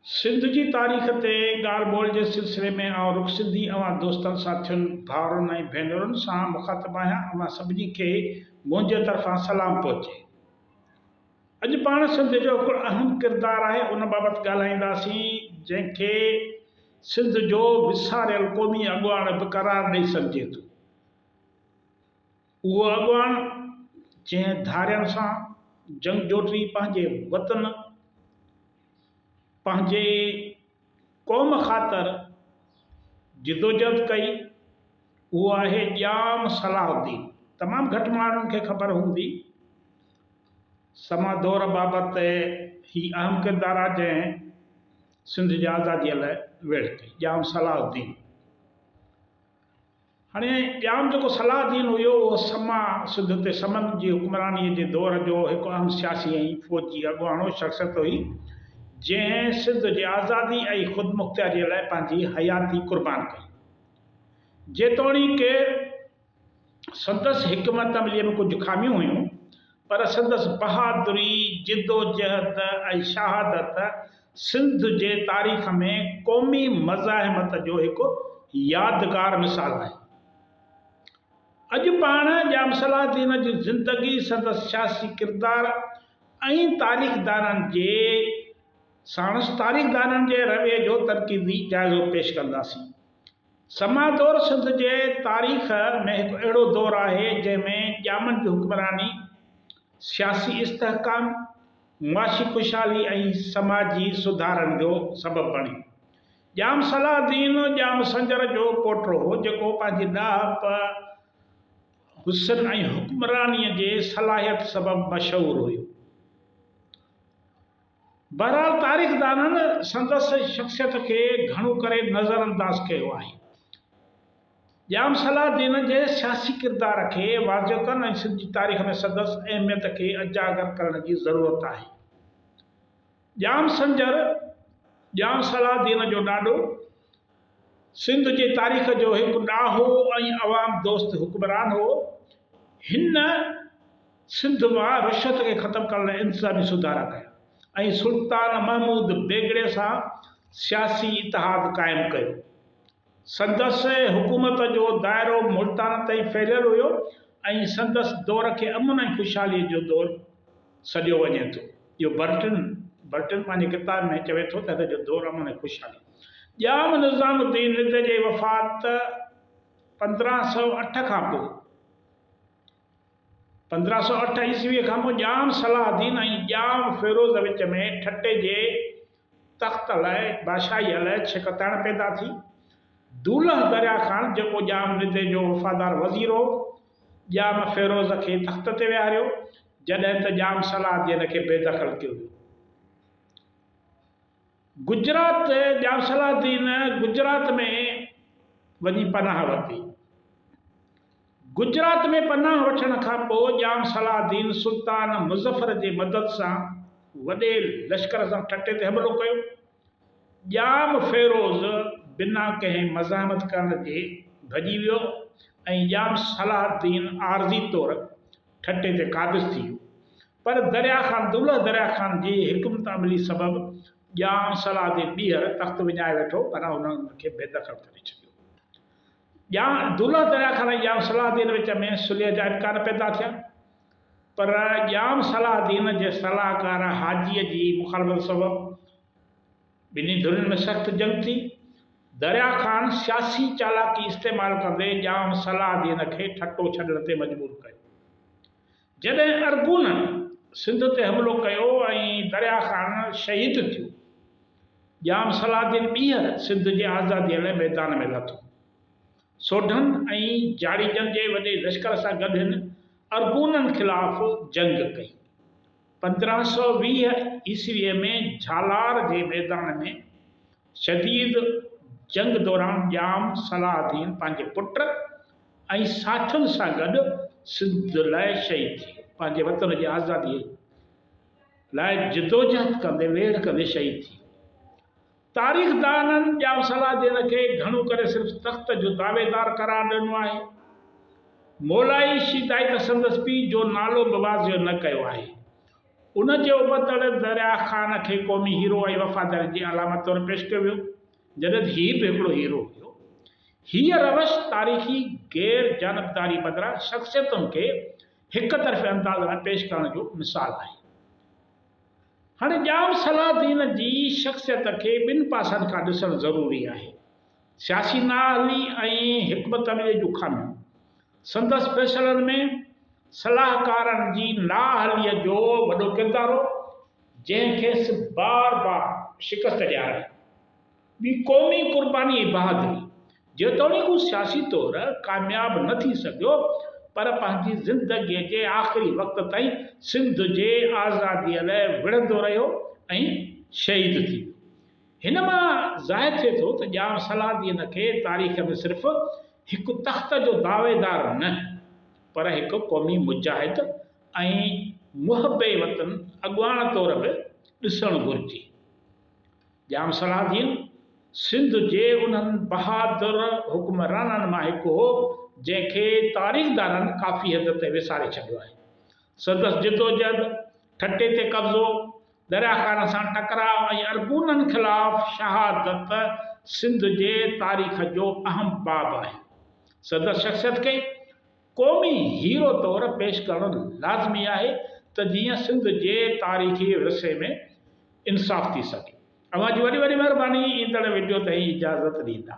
سنڌ جي تاريخ تي ڳالهه ٻولهه جي سلسلي ۾ آئون رخ سنڌي اوهان دوستن ساٿين ڀائرن ۽ ڀينرن سان مخاطب آهيان اوهان سڀني کي منهنجي طرفان سلام پهچي اڄ پاڻ سنڌ جو هڪڙو اهم ڪردار آهي ان بابت ڳالهائينداسين جنهن کي سنڌ جو وساريل قومي اڳواڻ به قرار ڏئي سگهجي ٿو. اهو اڳواڻ جنهن ڌارين سان جنگ جوٽي پنهنجي وطن پنهنجي قوم خاطر جدوجهد ڪئي اهو آهي ڄام صلاح الدين. تمام گهٽ ماڻهن کي خبر هوندي سما دور بابت هي اهم ڪردار آهي جنهن سنڌ جي آزادي لاء ويڙهه ڪئي. ڄام صلاح الدين. هاڻي ڄام جيڪو صلاح دين هيو اهو سما سنڌ تي سمن جي حڪمرانيء جي دور جو هڪ اهم سياسي ۽ فوجي اڳواڻو شخصيت هئي، جنهن سنڌ جي آزادي ۽ خودمختياريء لاء پنهنجي حياتي قربان ڪئي. جيتوڻيڪ سندس حڪمت عمليء ۾ ڪجهه خاميون هيون، پر سندس بهادري، جدوجهد ۽ شهادت سنڌ جي تاريخ ۾ قومي مزاحمت جو هڪ يادگار مثال آهي. اڄ پاڻ ڄام صلاح الدين جي زندگي، سندس سياسي ڪردار ۽ تاريخدانن جي ساڻس تاريخدانن جي رويي جو تنقيدي جائزو پيش ڪنداسين. سما دور سنڌ جي تاريخ ۾ هڪ اهڙو دور آهي، جنهن ۾ ڄامن جي حڪمراني، سياسي استحڪام، معاشي خوشحالي ۽ سماجي سڌارن جو سبب بڻي. ڄام صلاح الدين ڄام سنجر جو پوٽو هو، جيڪو پنهنجي ڏاهپ، حسن ۽ حڪمرانيء جي صلاحيت سبب مشهور هيو. بهرحال تاريخدانن سندس شخصيت کي گهڻو ڪري نظر انداز ڪيو آهي. ڄام صلاح الدين جي سياسي ڪردار کي واضح ڪن ۽ سنڌ جي تاريخ ۾ سندس اهميت کي اجاگر ڪرڻ جي ضرورت آهي. ڄام سنجر، ڄام صلاح الدين جو ڏاڏو، سنڌ جي تاريخ جو هڪ ڏاهو ۽ عوام دوست حڪمران هو. هن سنڌ مان رشوت کي ختم ڪرڻ لاء انتظامي سڌارا ڪيا ۽ سلطان محمود بيگڙي سان سياسي اتحاد قائم ڪيو. سندس حڪومت جو دائرو ملتان تائين ڦهليل هيو ۽ سندس دور کي امن ۽ خوشحالي جو دور سڏيو وڃي ٿو. جو برٽن، Burton، پنهنجي ڪتاب ۾ چوي ٿو ته هت جو دور امن ۽ خوشحالي. ڄام نظام الدين رند جي وفات پندرهن سؤ اٺ کان پوء، پندرهن سؤ اٺ عيسويء کان پوء، ڄام صلاح الدين ۽ ڄام فيروز وچ ۾ ٺٽي جي تخت لاء بادشاهي علئه ڇڪتاڻ پيدا ٿي. دولهه دريا خان جيڪو ڄام رند جو وفادار وزير هو، ڄام فيروز کي تخت تي ويهاريو، جڏهن ته ڄام صلاح الدين کي بي دخل ڪيو ويو. گجرات، ڄام صلاح الدين گجرات ۾ وڃي پناهه ورتي. گجرات ۾ پناهه وٺڻ کان پوء ڄام صلاح الدين سلطان مظفر جي مدد سان وڏي لشڪر سان ٺٽي تي حملو ڪيو. ڄام فيروز بنا ڪنهن مزاحمت ڪرڻ جي ڀڄي ويو ۽ ڄام صلاح الدين عارضي طور ٺٽي تي قابض ٿي ويو. پر دريا خان دولهه دريا خان جي حڪمت عملي سبب ڄام صلاح الدين ٻيهر تخت وڃائي ويٺو پر هن ان کي بي دخل ڪري ڇڏيو. ڄام دولهه دريا خان ۽ ڄام صلاح الدين وچ ۾ صلح جا امڪان پيدا ٿيا. پر ڄام صلاح الدين جي صلاحڪار حاجيء جي مخالفت سبب ٻنهي ڌرين ۾ سخت جنگ ٿي. دريا خان سياسي چالاڪي استعمال ڪندي ڄام صلاح الدين کي ٺٽو ڇڏڻ تي مجبور ڪيو. جڏهن ارغونن سنڌ تي حملو ڪيو ۽ دريا خان شهيد ٿيو، ڄام صلاح الدين ٻيهر سنڌ جي آزاديء لاء ميدان ۾ لٿو. سوڍن ۽ جاڙيجن جي وڏي لشڪر سان گڏ هن ارغونن خلاف جنگ ڪئي. پندرهن سؤ ويهه عيسويء ۾ جھالار جي ميدان ۾ شديد جنگ دوران ڄام صلاح الدين پنهنجي پٽ ۽ ساٿين سان گڏ سنڌ لاء شھيد ٿي ويو. پنهنجي وطن جي آزاديء لاء جدوجهد ڪندي ويڙهه ڪندي شھيد ٿي ويو. تاريخدانن ڄام صلاح الدين کي گهڻو ڪري صرف تخت جو دعويدار قرار ڏنو آهي. مولائي شيدائي ته سندس پيء جو نالو به واضح نه ڪيو آهي. ان جي ابتڙ درياه خان کي قومي هيرو ۽ وفاداري جي علامت طور پيش ڪيو ويو، جڏهن ته هي به هڪڙو هيرو هيو. هيء روش تاريخي غير جانبداري بدران شخصيتن کي هڪ طرفي انداز ۾ پيش ڪرڻ جو مثال آهي. هاڻي ڄام صلاح الدين جي شخصيت کي ٻن پاسن کان ڏسڻ ضروري آهي، سياسي نااهلي ۽ حڪمت عمليء جون خاميون. سندس فيصلن ۾ صلاحڪارن جي نااهليء جو وڏو ڪردار هو، جنهن کيس بار بار شڪست ڏيارائي. ٻي قومي قربانيء جي بهادري، جيتوڻيڪ هو سياسي طور ڪامياب نه ٿي سگهيو، پر پنهنجي زندگيء جي آخري وقت تائين سنڌ جي آزاديء لاء وڙهندو رهيو ۽ شهيد ٿي ويو. هن مان ظاهر ٿئي ٿو ته ڄام صلاح الدين کي تاريخ ۾ صرف هڪ تخت جو دعويدار نه، پر هڪ قومي مجاهد ۽ محب وطن اڳواڻ طور به ڏسڻ گهرجي. ڄام صلاح الدين سنڌ جي انهن بهادر حڪمرانن مان هڪ هو، جنهن کي تاريخدانن ڪافي حد تائين وساري ڇڏيو آهي. سندس جدوجهد، ٺٽي تي قبضو، دريا خان سان ٽڪراء ۽ ارغونن خلاف شهادت سنڌ جي تاريخ جو اهم باب آهي. سندس شخصيت کي. قومي هيرو طور پيش ڪرڻ لازمي آهي ته جيئن سنڌ جي تاريخي ورثي ۾ انصاف ٿي سگهي. اوهان جي وڏي وڏي مهرباني ايندڙ وڊيو تائين اجازت ڏيندا.